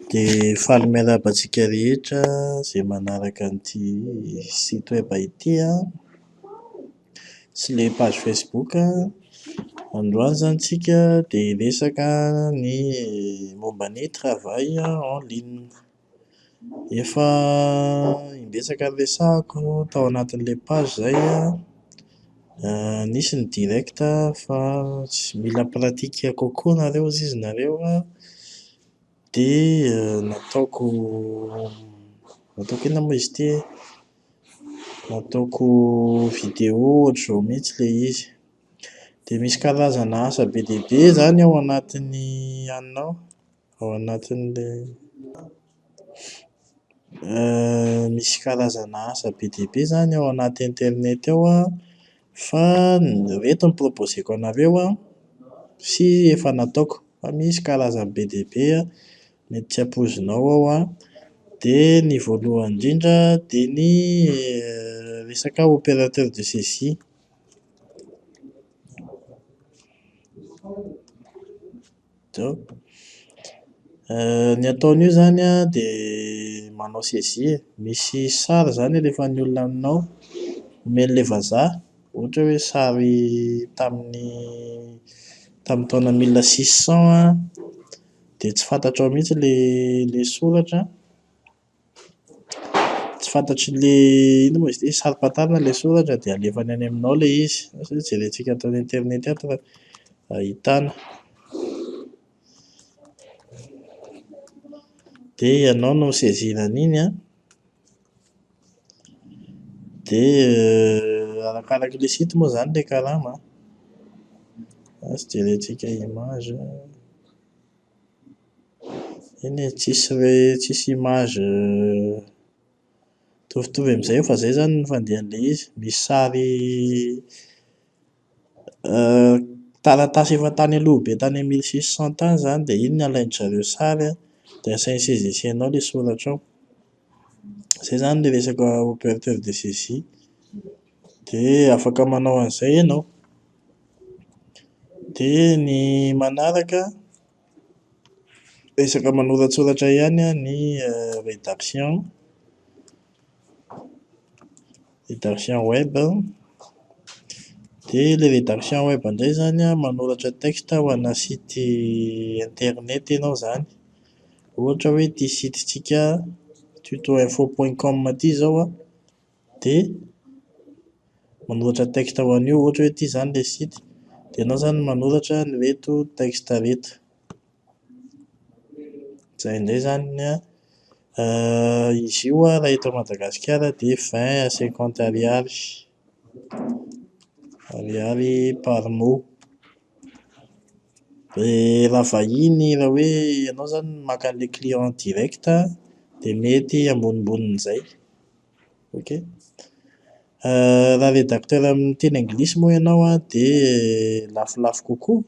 Dia faly miarahaba antsika rehetra izay manaraka an'ity site web ity an, sy ilay page facebook an. Androany izany tsika dia hiresaka ny momba ny travail en ligne. Efa imbetsaka niresahako tao anatin'ilay page izay an, nisy ny direct fa tsy mila pratique kokoa nareo hoy izy nareo an, dia nataoko nataoko inona moa izy ity e? nataoko vidéo ohatr'izao mihintsy ilay izy. Dia misy karazana asa be dia be izany ao anatin'ny anona ao. Ao anatin'ilay misy karazana asa be dia be izany ao anaty internet ao an, fa ireto ny proposeko anareo an, sy efa nataoko, fa misy karazany be dia be an, mety tsy ampoizinao ao an, dia ny voalohany indrindra dia ny resaka opérateur de saisie. Zao. Ny ataony io izany an, dia manao saisie e. Misy sary izany alefan'ny olona aminao, omeny ilay vazaha, ohatra hoe sary tamin'ny tamin'ny taona mille six cent an, dia tsy fantatrao mihitsy ilay ilay soratra an, Tsy fantatry le inona moa izy ity, saro-pantarina ilay soratra dia alefany any aminao ilay izy, asa hoe jerentsika ato amin'ny internet ato raha ahitana. Dia ianao no mi-saisir an'iny an, dia arakaraka ilay site moa izany ilay karama an, asa jerentsika image. Eny e, tsisy hoe tsisy image mitovitovy amin'izay eo fa izay izany no fandehan'ilay izy. Misy sary taratasy efa tany aloha be tany amin'ny mille six cent tany izany dia iny no alain-dry zareo sary an, dia asainy saisissez anao ilay soratra ao. Izay izany ilay resaka operateur de saisie. Dia afaka manao an'izay ianao. Dia ny manaraka an. Resaka manoratsoratra ihany ny rédaction, rédaction web. Dia ilay rédaction web indray izany an, manoratra texte ho ana site internet ianao izany. Ohatra hoe ity site-ntsika tutoinfo.com ity izao an. dia manoratra texte ho an'io ohatra hoe ity izany ilay site dia ianao izany manoratra ny hoe ito texte ireto izay indray izany ny an izy io an raha eto Madagasikara dia vingt à cinquante ariary ariary par mot dia raha vahiny raha hoe ianao izany maka an'ilay client direct dia mety ambonimbonin'izay Ok. Raha rédacteur amin'ny teny anglisy moa ianao an, dia lafolafo kokoa,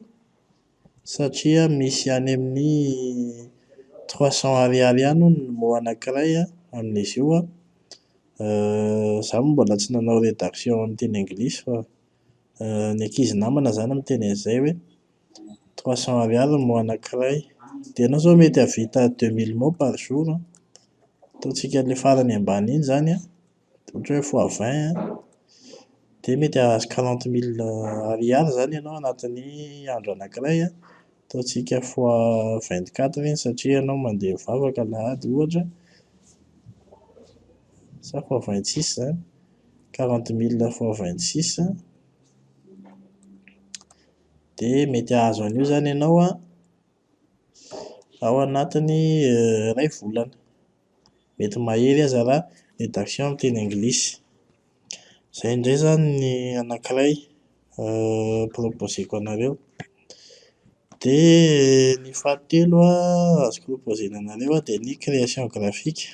satria misy any amin'ny trois cents ariary any hono ny mots anankiray an, amin'izy io an, izaho moa mbola tsy nanao rédaction amin'ny teny anglisy fa. ny ankizy namana izany miteny an'izay hoe trois cents ariary ny mois anankiray, dia ianao izao mety hahavita deux mille mots par jour an, ataontsika ilay farany ambany iny izany an, ohatra hoe fois vingt an, dia mety hahazo quarante mille ariary izany ianao anatin'ny andro anankiray an, ataontsika fois vingt quatre iny satria ianao mandeha mivavaka alahady ohatra, sa fois vingt six izany. quarante mille fois vingt six dia mety hahazo an'io izany ianao an, ao anatin'ny iray volana. Mety mahery aza raha redaction amin'ny teny anglisy. Izay indray izany ny anankiray. proposer-ko anareo. Dia ny fahatelo azoko proposer-na anareo dia ny création graphique.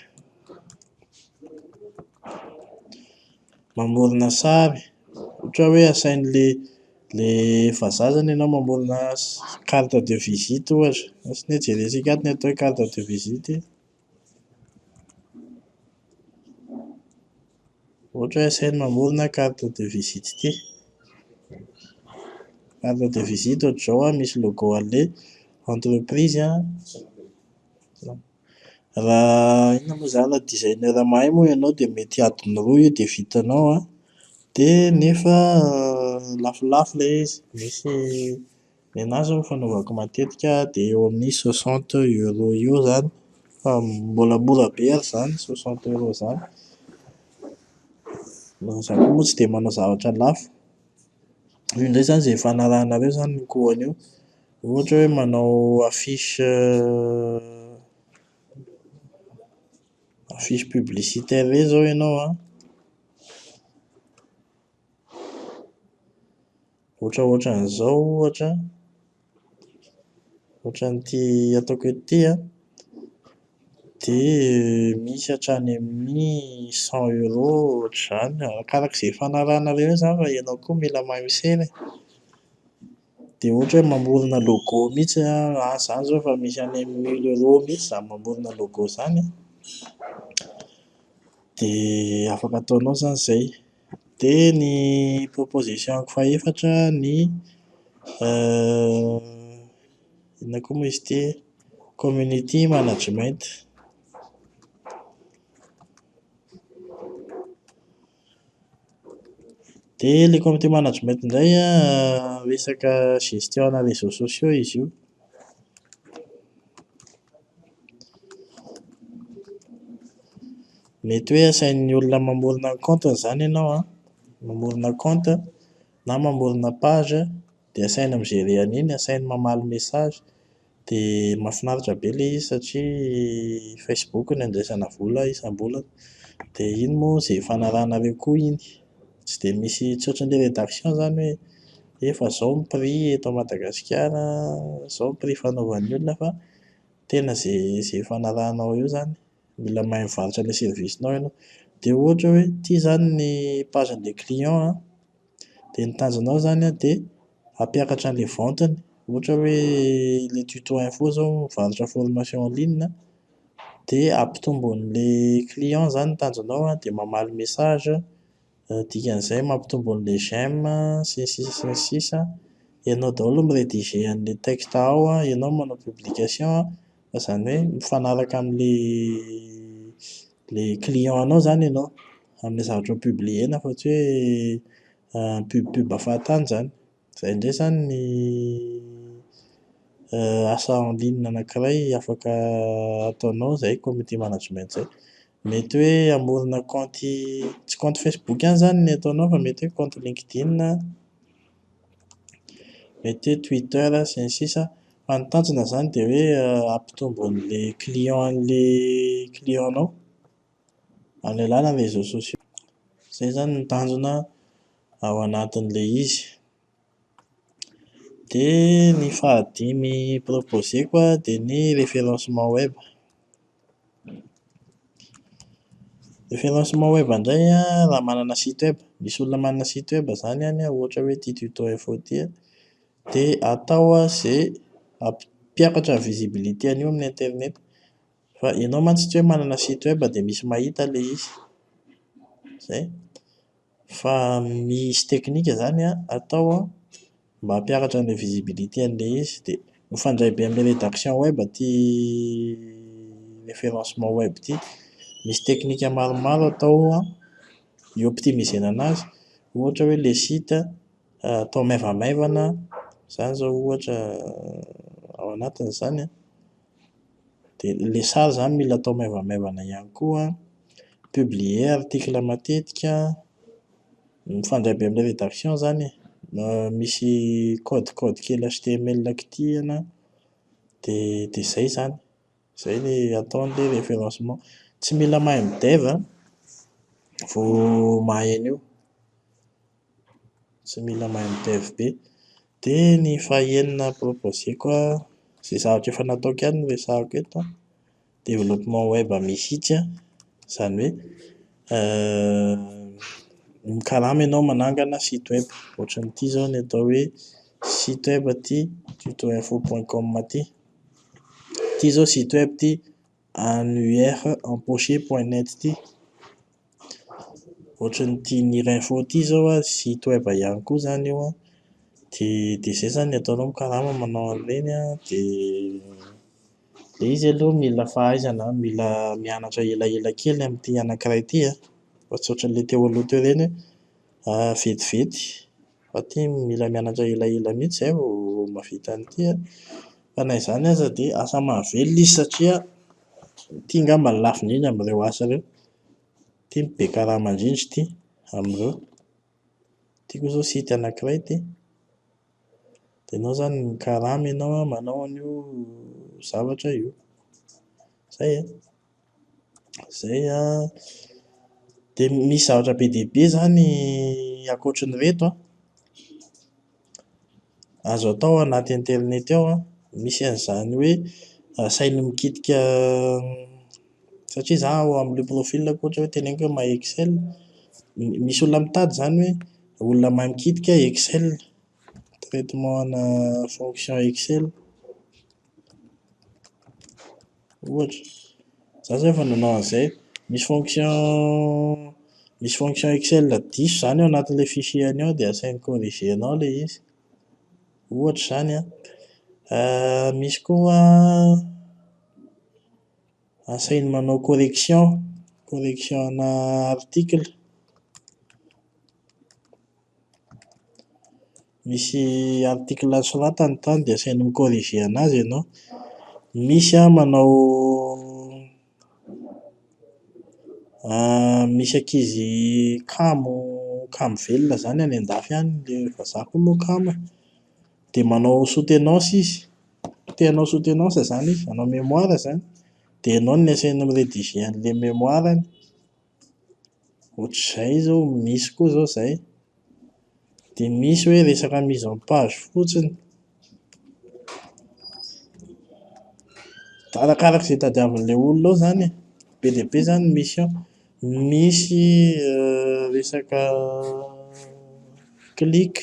Mamorona sary, ohatra hoe asain'le le vazaha izany ianao mamorona carte de visite ohatra. Asiny hoe jerentsika ato ny atao hoe carte de visite. Ohatra hoe sahy mamorona carte de visite ity. Carte de visite ohatra izao an, misy logo an'ilay entreprise an, raha inona moa izany, raha designer mahay moa ianao dia mety adiny roa io dia vitanao an, dia nefa lafolafo ilay izy, misy Ny anah izao ny fanaovako matetika dia eo amin'ny soixante euro eo izany fa mbola mora be ary izany soixante euro izany. Na izaho koa moa tsy dia manao zavatra lafo. Io indray izany izay efa anarahanareo izany ny kohany io. Ohatra hoe manao affiche affiche publicitaire irery izao ianao an! Ohatraohatran'izao ohatra, ohatran'ity ataoko eto ity an, dia misy hatrany amin'ny cent euro ohatr'izany, arak'araka izay fanarahanareo eo izany fa ianao koa mila mahay misera e. Dia ohatra hoe mamorona logo mihitsy an, ahy izany izao efa misy any amin'ny mille euro mihitsy izaho mamorona logo izany an, dia afaka ataonao izany izay. Dia ny proposition-ko fahefatra ny inona koa moa izy ity community management. Dia ilay community management indray an, resaka gestion ana réseaux sociaux izy io. Mety hoe asain'ny olona mamorona ny compte-ny izany ianao an, mamorona compte na mamorona page dia asaina mi-gérer an'iny, asainy mamaly message, dia mahafinaritra be ilay izy satria Facebook no andraisana vola isam-bolana, dia iny moa izay ifanarahanareo koa iny, tsy dia misy tsy ohatran'ilay rédaction izany hoe efa izao ny prix eto Madagasikara an, izao ny prix fanaovan'ny olona fa. tena ze ze efa anarahanao eo zany mila mahay mivarotra le service nao ianao de ohatra hoe ty zany ny page nle client an de ny tanjona ao zany an de hampiakatra anle vente-ny ohatra hoe le tuto info zao mivarotra formation en ligne an de hampitombo anle client zany ny tanjonao an de mamaly message dikan'izay mampitombo an'ilay j'aime sy ny sisa sy ny sisa, ianao daholo mi-rediger an'ilay texte ao an, ianao manao publication an, fa izany hoe mifanaraka amin'ilay ilay client anao izany ianao, amin'ilay zavatra ho publier-na fa tsy hoe pub pub fahatany izany. Izay indray izany ny asa en ligne anankiray afaka ataonao izay community management izay. Mety hoe hamorona kaonty, tsy kaonty Facebook ihany izany no ataonao fa mety hoe kaonty LinkedIn, mety hoe Twitter sy ny sisa Fa ny tanjona izany dia hoe hampitombo an'ilay client an'ilay client-nao. amin'ny alalan'ny réseaux sociaux. Izay izany no tanjona ao anatin'ilay izy. Dia ny fahadimy proposé-ko an, dia ny référencement web. Référencement web indray an, raha manana site web, misy olona manana site web izany any an, ohatra hoe ity tuto info ity an, dia atao an izay hampiakatra ny visibilité-ny eo amin'ny internet. Fa ianao mantsy tsy hoe manana site web dia misy mahita ilay izy. Izay. Fa misy teknika izany atao an, mba hampiakatra an'ilay visibilité an'ilay izy. Dia mifandray be amin'ny rédaction web ity référencement web ity. Misy teknika maromaro atao an, hi-optimisena an'azy. Ohatra hoe ilay site atao maivamaivana, izany izao ohatra ao anatin'izany an. dia ilay sary izany mila atao maivamaivana ihany koa an, publier article matetika, mifandray be amin'ny rédaction izany e, misy code code kely html kitihina dia dia izay izany, izay ny atao ny hoe référencement, tsy mila mahay mi-dev an vao mahay an'io tsy mila mahay mi-dev be dia ny fahenina proposé-ko an, izay zavatra efa nataoko ihany no resahako eto an, développement web mihitsy an, izany hoe mikarama ianao manangana site web, ohatran'ity izao ny atao hoe site web ity tutoinfo point com ity, ity izao site web ity Annuaire empoché point net ity. Ohatrany ity Nir info ity izao an, site web ihany koa izany io an, dia dia izay izany ny ataonao mikarama manao an'ireny an, dia ilay izy aloha mila fahaizana, mila mianatra elaela kely amin'ity anankiray ity an, fa tsy ohatran'ilay teo aloha teo ireny hoe vetivety. fa ity mila mianatra elaela mihitsy izay vao mahavita an'ity a! Fa na izany aza dia asa mahavelona izy satria ity angamba no lafo indrindra amin'ireo asa ireo. Ity no be karama indrindra ity amin'ireo. Ity koa izao site anankiray ity. Dia ianao izany mikarama ianao an, manao an'io zavatra io. Izay e! Izay an. Dia misy zavatra be dia be izany ankoatry ny ireto an. Azo atao ao anaty internet ao an, misy an'izany hoe asainy mikitika satria izaho ao amin'ilay profil-ko ohatra hoe teneniko hoe mahay excel, misy olona mitady izany hoe olona mahay mikitika excel, traitement ana fonction excel. Ohatra, za zay efa nanao an'izay, misy fonction misy fonction excel diso izany ao anatin'ilay fichier-ny ao dia asainy corriger-nao ilay izy. Ohatra izany an! misy koa asainy manao correction, correction ana article. misy article soratany tany dia asainy mi corriger anazy ianao, misy an manao misy ankizy kamo kamo velona zany any andafy any, le vazaha koa moa kamo e, dia manao soutenance izy, te hanao soutenance zany izy, hanao mémoire zany, dia ianao no asainy mi rediger an'ilay mémoire-ny Ohatr'izay izao, misy koa izao izay. Dia misy hoe resaka mise en page fotsiny. Da arakaraka izay tadiavin'ilay olona ao izany e. Be dia be izany ny misy ao. Misy resaka clic.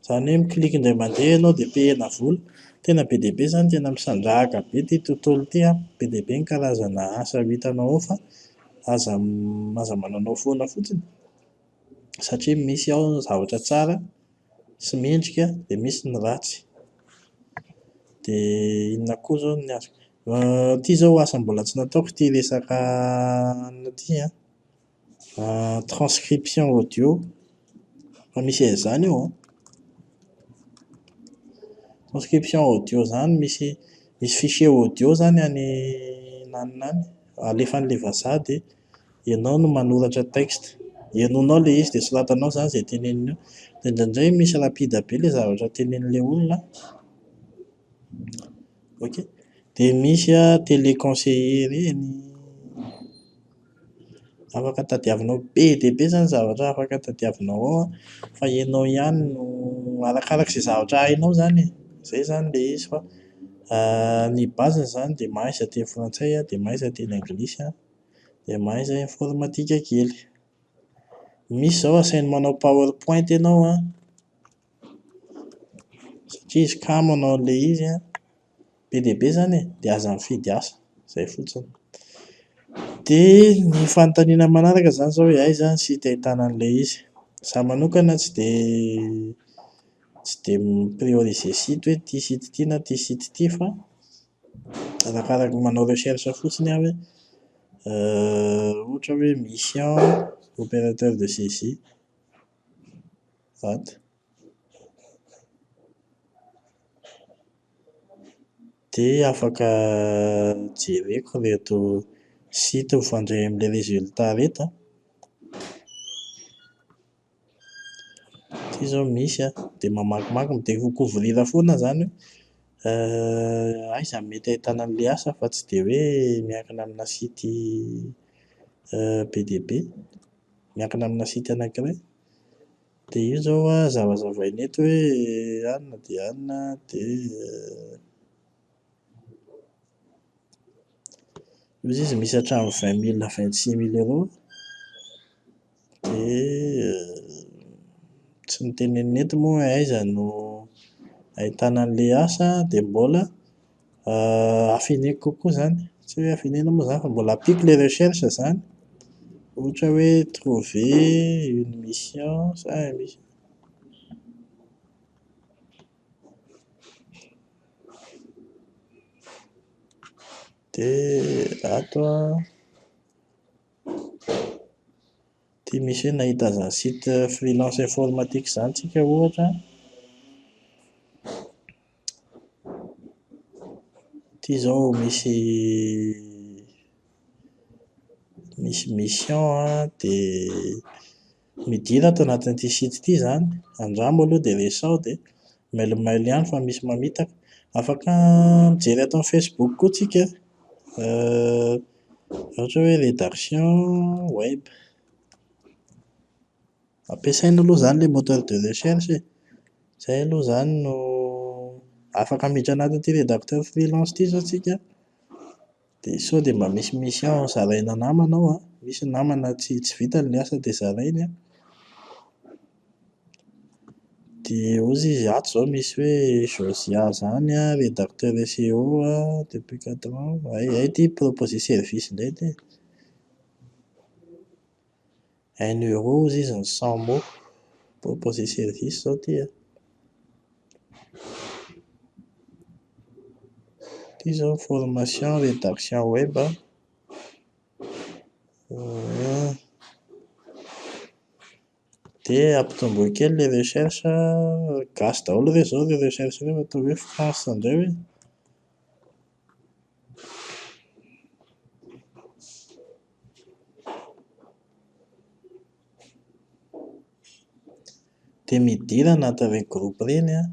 Izany hoe mi-click indray mandeha ianao dia pihena vola. Tena be dia be izany, tena misandrahaka be ity tontolo ity an! Be dia be ny karazana asa ho hitanao ao fa aza aza mananao foana fotsiny satria misy ao ny zavatra tsara sy mendrika dia misy ny ratsy. Dia inona koa izao ny azoko ity izao asa mbola tsy nataoko ity resaka anona ity an! Transcription audio, efa misy an'izany eo an! Transcription audio izany misy misy fichier audio izany any nanona any, alefa an'ilay vazaha dia ianao no manoratra texte, henonao ilay izy dia soratanao izany izay teneniny eo, dia indraindray misy rapide be ilay zavatra tenenin'ilay olona an! Ok, dia misy an tele conseiller ireny, afaka tadiavinao be dia be izany zavatra afaka tadiavinao ao an, fa ianao ihany no arakaraka izay zavatra hainao izany e, izay izany ilay izy fa ny base izany dia mahay izay teny frantsay an, dia mahay izay teny anglisy an, dia mahay izay informatika kely. Misy izao asainao manao power point ianao an. satria izy ka manao an'ilay izy an, be dia be izany e, dia aza mifidy asa, izay fotsiny. Dia ny fanontaniana manaraka izany izao hoe aiza ny site ahitana an'ilay izy? Izaho manokana tsy dia tsy dia mi-prioriser site hoe ity site ity na ity site ity fa arakaraka manao recherche fotsiny aho hoe ohatra hoe mission opérateur de saisie. vato dia afaka jereko ireto site mifandray amin'ilay resulta ireto an, ity izao misy an, dia mamakimaky dia mi-découvrir foana izany hoe aiza no mety ahitana an'ilay asa fa tsy dia hoe miankina amina site be dia be miankina amina site anankiray dia io izao a zavazavaina eto hoe an na dia an dia loza izy misy hatramin'ny vingt mille vingt six mille eo dia tsy notenenina eto moa hoe aiza no ahitana an'ilay asa dia mbola Afeneko kokoa izany, tsy hoe afenena moa izany fa mbola ampiako ilay recherche izany, ohatra hoe trouver une mission sa un mis- dia ato an, ity misy hoe nahita an'izany site freelance informatique izany tsika ohatra an. Ity izao misy misy mission an, dia midina ato anatin'ity site ity izany, andramo aloha dia resaho dia mailomailo ihany fa misy mamitaka. Afaka mijery ato amin'ny Facebook koa tsika an, ohatra hoe redaction web. Ampiasaina aloha izany ilay moteur de recherche e. Izay aloha izany no afaka miditra anatin'ity rédacteur freelance ity izao tsika an, dia sao dia mba misy mission zaraina namana ao an, misy ny namana tsy tsy vitany ilay asa dia zarainy an, dia ozy izy ato izao misy hoe Josia izany an, rédacteur SEO an, depuis quatre ans, hay hay ity proposer service indray ity e. un euro ozy izy ny cent mots proposer service zao ity an, ity izao ny formation redaction web an, dia ampitomboy kely ilay recherche an, gasy daholo ve izao ireo recherche ireo raha toa hoe France indray ve? Dia midina anatin'ireny groupe ireny an,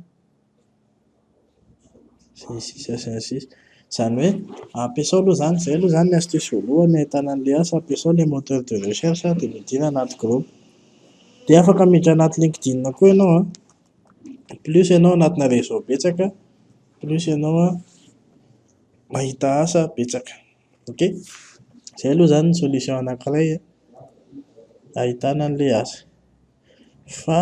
sy ny sisa sy ny sisa. Izany hoe ampiasao aloha izany, izay aloha izany ny astuce voalohany ahitana an'ilay asa, ampiasao ilay moteur de recherche dia midina anaty groupe. Dia afaka miditra anaty LinkedIn koa ianao an. plus ianao anatina réseau betsaka plus ianao mahita asa betsaka ok zay aloha zany ny solution anakiray ahitana anle asa fa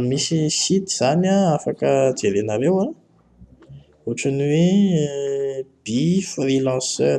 misy site zany afaka jerenareo an ohatran'ny hoe by freelancer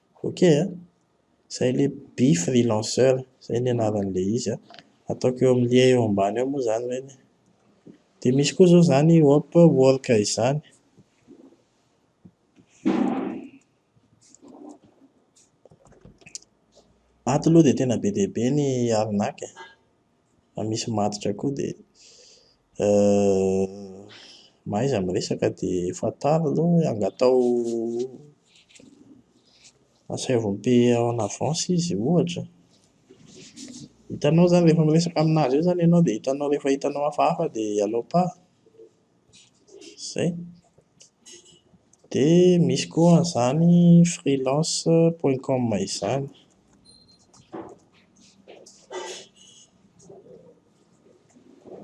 Ok a! Izay le By Freelanceur, izay ny anaran'ilay izy a! Ataoko eo amin'ilay eo ambany eo moa izany ireny e! Dia misy koa izao izany Upwork izany. Ato aloha dia tena be dia be ny arnaque e! raha misy matotra koa dia mahaiza miresaka dia fantaro aloha hoe angataho asaivo mi-payer en avance izy ohatra. Hitanao izany rehefa miresaka amin'azy eo izany ianao dia hitanao rehefa hitanao hafahafa dia alao pas. izay. Dia misy koa an'izany freelance point com izany.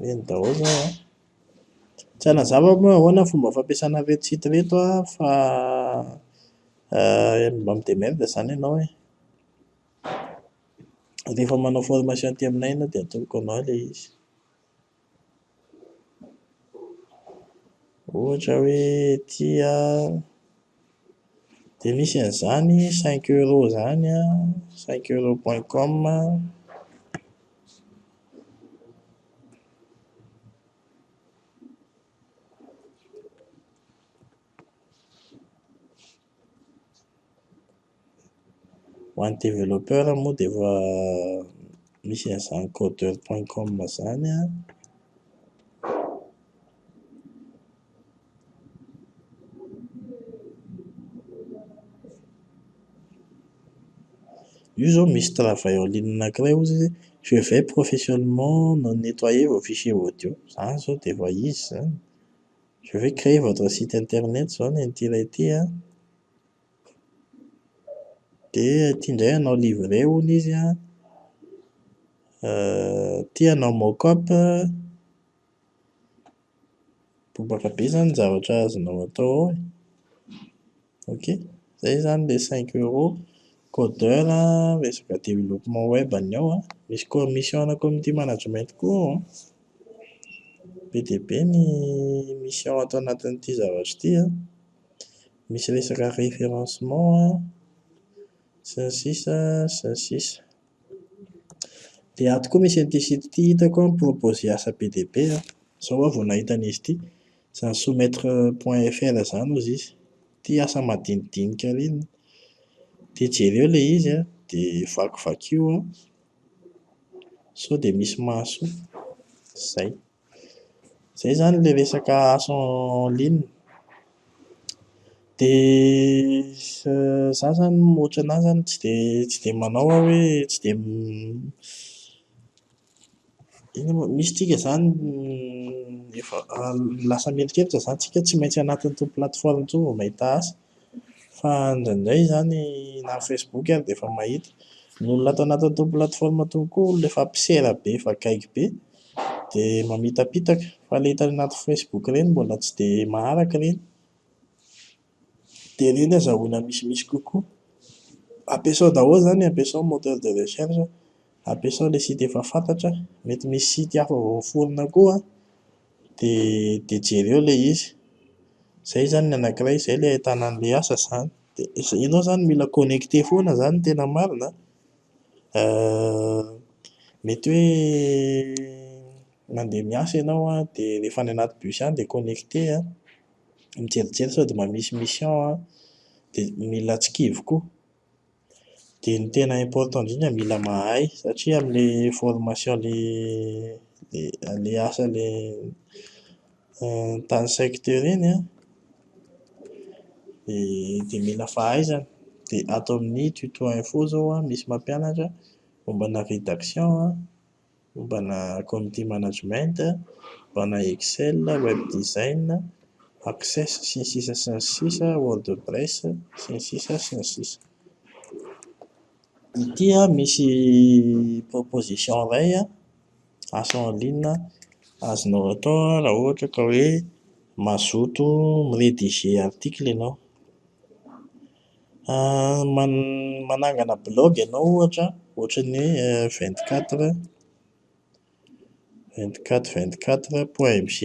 Ireny daholo izany an! Tsy hanazava aho moa ahoana ny fomba fampiasana ireto site ireto an, fa mba mi-demerder izany ianao e. Rehefa manao formation aty aminay ianao dia atoloko anao ilay izy. Ohatra hoe tia dia misy an'izany cinq euro izany an, cinq euro point com an. Ho an'ny developpeur moa dia efa misy an'izany codeur point com izany an, io izao misy travail en ligne anankiray ozy izy je vais professionnement nettoyer vos fichiers audio, izany izao dia efa izy izany. Je vais creer votre site internet zao ny an'ity ilay ity an, dia ity indray hanao livrer hono izy an, ity hanao mock up, bobaka be izany ny zavatra azonao atao ao e. Ok, izay izany ilay cinq euros, codeur, resaka développement web ny ao an, misy commission ana community management koa ao an, be dia be ny mission ato anatin'ity zavatra ity an, misy resaka référencement an, sy ny sisa sy ny sisa Dia ato koa misy an'ity site ity hitako proposer asa be dia be an, izao aho vao nahita an'izy ity Izany soumettre point fr izany hozy izy, ity asa madinidinika ry an! Dia jereo ilay izy an, dia vakivakio an! Sao dia misy mahasoa. Izay. Izay izany ilay resaka asa en ligne. Dia izaho izany mihoatra anà izany tsy dia tsy dia manao aho hoe tsy dia Eny amin'izao misy tsika izany efa lasa mieritreritra izany tsika tsy maintsy anaty an'itony plateforme itony vao mahita asa fa indraindray izany na ny facebook ary dia efa mahita ny olona ato anaty an'itony plateforme itony koa olona efa mpisera be efa gaigy be dia mamitapitaka fa ilay hitany anaty facebook ireny mbola tsy dia maharaka ireny dia reny azahoana misimisy kokoa. Ampiasao daholo izany, ampiasao ny moteur de recherche, ampiasao ilay site efa fantatra, mety misy site hafa vao miforona koa an, dia dia jereo ilay izy. Izay izany ny anankiray, izay ilay ahitana an'ilay asa izany. Dia izay, ianao izany mila connecter foana izany no tena marina an, mety hoe mandeha miasa ianao an, dia rehefa any anaty bus any dia connecter an. mijerijery sao dia mba misy mission an, dia mila tsikivy koa, dia ny tena important indrindra mila mahay satria amin'ilay formation ilay ilay asa ilay tany saiky teo ireny an, dia dia mila fahaizana, dia ato amin'ny tuto info izao an, misy mampianatra momba ana rédaction an. mombana community management, mombana excel, web design, access sy ny sisa sy ny sisa, wordpress sy ny sisa sy ny sisa. Ity an misy proposition iray an, asa en ligne azonao atao raha ohatra ka hoe mazoto mi-rediger article ianao. Man- manangana blog ianao ohatra ohatra ny hoe vingt quatre vingt quatre vingt quatre point mg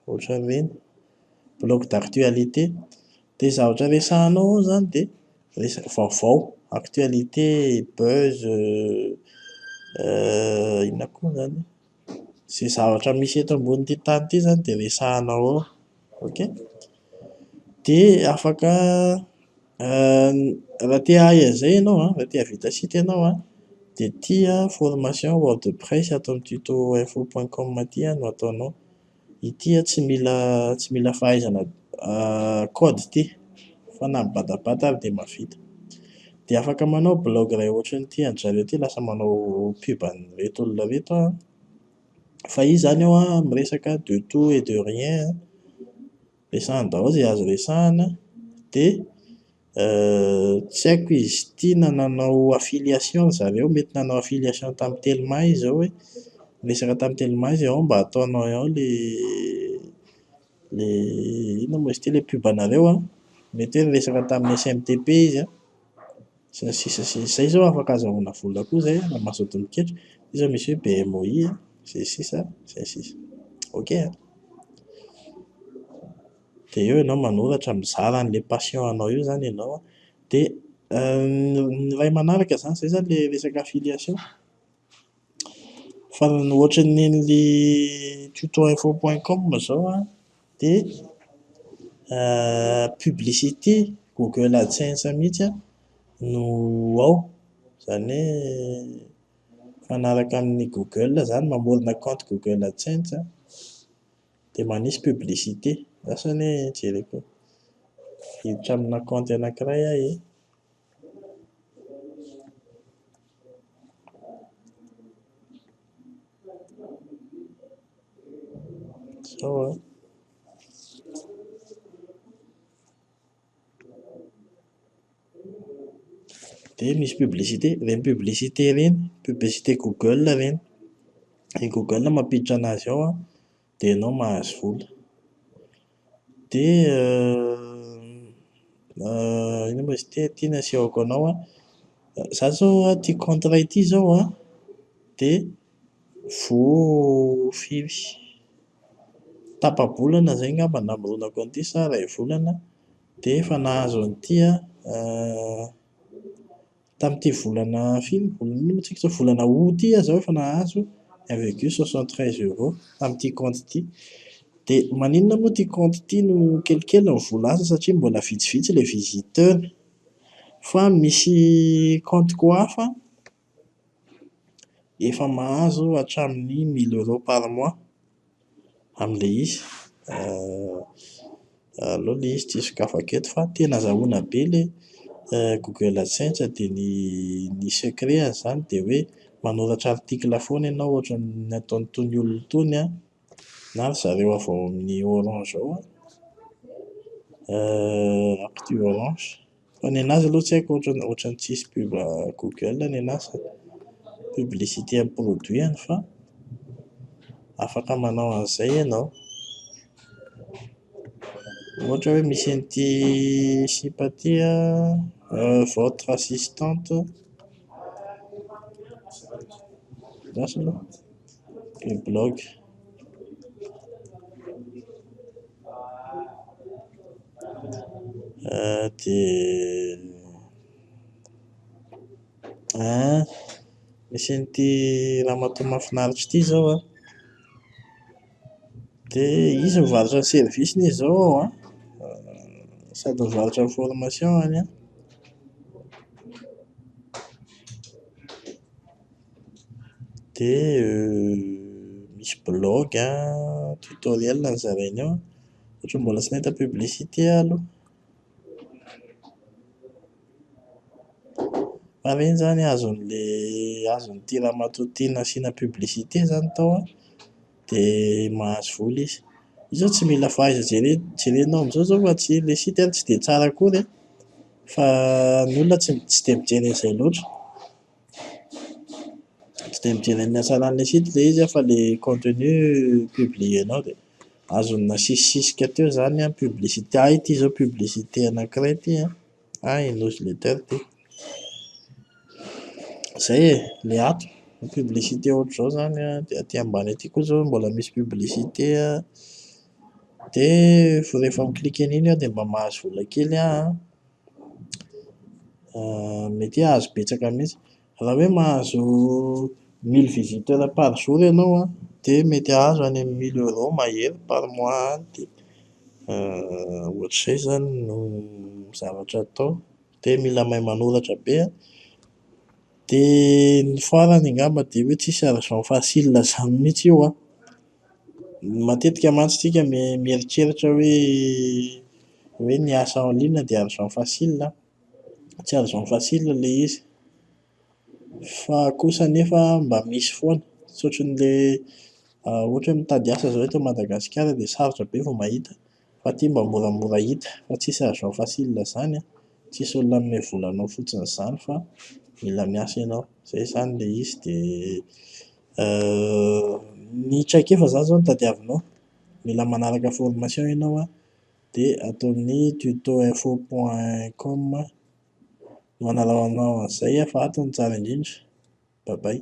ohatra an'ireny, blog d'actualité, dia ny zavatra resahanao ao izany dia resaka vaovao, actualité, buzz, inona koa izany e? Izay zavatra misy eto ambonin'ity tany ity izany dia resahana ao. Ok? Dia afaka raha te hahay an'izay ianao an, raha te hahavita site ianao an, dia ity an, formation wordpress ato amin'ny tuto info point com ity an no ataonao. Ity a tsy mila tsy mila fahaizana code ity fa na mibatabata ary dia mahavita. Dia afaka manao blaogy iray ohatran'ity an-dry zareo ity lasa manao pub an'ireto olona ireto aho an. Fa izy izany ao an miresaka de tout et de rien an, resahiny daholo izay azo resahina dia. Euh, tsy haiko izy ity na nanao affiliation ry zareo, mety nanao affiliation tamin'ny telma izy izao hoe miresaka tamin'ny telma izy ao mba ataonay ao le le inona moa izy ity le pub anareo an, mety hoe niresaka tamin'ny SMTP izy an, sy ny sisa sy ny sisa, izay izao afaka azahoana vola koa izay an, raha mazoto miketra, io izao misy hoe BMOI an, sy ny sisa sy ny sisa. Ok an! dia eo ianao manoratra mizara an'ilay passion anao eo izany ianao an, dia ny iray manaraka izany, izay izany ilay resaka affiliation, fa ny ohatran'ny an'ilay tutoinfo point com izao an, dia publicité google adsense mihintsy an no ao, izany hoe mifanaraka amin'ny google izany, mamorona compte google adsense an. dia manisy publicité asa anie jereko hiditra amina kaonty anankiray aho ee. Zao an. dia misy publicité ireny publicité ireny publicité google ireny dia ny google mampiditra anazy ao an dia ianao mahazo vola dia inona moa izy ity ity no asehoko anao an za zao ity contrat ity zao an dia Voafiry. Tapa-bolana izay angamba namoronako an'ity sa iray volana dia efa nahazo an'ity aho. Tamin'ity volana firy no volana inona moa isika izao? Volana aout ity aho izao efa nahazo un virgule soixante treize euro tamin'ity kaonty ity. Dia maninona moa ity kaonty ity no kelikely ny vola azo satria mbola vitsivitsy ilay visiteur. Fa misy kaonty koa hafa an! Efa mahazo hatramin'ny mille euros par mois amin'ilay izy. Aleo ilay izy tsy sokafako eto fa tena azahoana be ilay Google Adsense dia ny ny secret an'izany dia hoe manoratra article foana ianao ohatra ny ataon'itony olona itony an. na ry zareo avy ao amin'ny orange ao an, eh, actu orange, fa ny anazy aloha tsy haiko ohatran'ny ohatran'ny tsisy pub google ny anazy fa publicité amin'ny produit-ny fa afaka manao an'izay ianao. Ohatra hoe misy an'ity sipa ity an, votre assistante, lasa aloha le blog. Dia an, misy an'ity ramatoa mahafinaritra ity izao an. Dia izy mivarotra ny service-ny izao ao an, sady mivarotra ny formation-ny an. Dia misy blog an, tutoriel nozarainy ao. Ohatran'ny mbola tsy nahita publicité aho aloha. Aleo izany azon'ilay azon'ity ramatoa ity nasiana publicité izany tao an, dia mahazo vola izy. Io izao tsy mila fahaiza jere, jerenao amin'izao izao fa tsy ilay site tsy dia tsara akory an, fa ny olona tsy tsy dia mijery an'izay loatra. Tsy dia mijery ny hatsaran'ilay site ilay izy an fa ilay contenu publier-nao dia. azony nasisisika teo zany an publicité ah ity zao publicité anakiray ity an, ah i newsletter ity, zay e, le ato ny publicité ohatr'izao zany an, de aty ambany aty koa zao mbola misy publicité an, de rehefa mi clique an'iny aho de mba mahazo vola kely aho an, mety hoe azo betsaka mihintsy. Raha hoe mahazo mille visiteurs par jour ianao an, dia mety hahazo any amin'ny mille euros mahery par mois any dia ohatr'izay izany no zavatra atao. Dia mila mahay manoratra be an. Dia ny farany angamba dia hoe tsisy argent facile izany mihitsy io an. Matetika mantsy isika mieritreritra hoe hoe ny asa en ligne dia argent facile an. tsy azony facile ilay izy fa kosa nefa mba misy foana tsy ohatran'ilay ohatra hoe mitady asa izao eto Madagasikara dia sarotra be vao mahita fa aty mba moramora hita fa tsisy azo atao facile izany an, tsisy olona hanome vola anao fotsiny izany fa mila miasa ianao, izay izany ilay izy dia ny traikefa izany izao no tadiavinao, mila manaraka formation ianao an dia ato amin'ny tuto info point com no analao anao an'izay fa ato no tsara indrindra. Bye bye.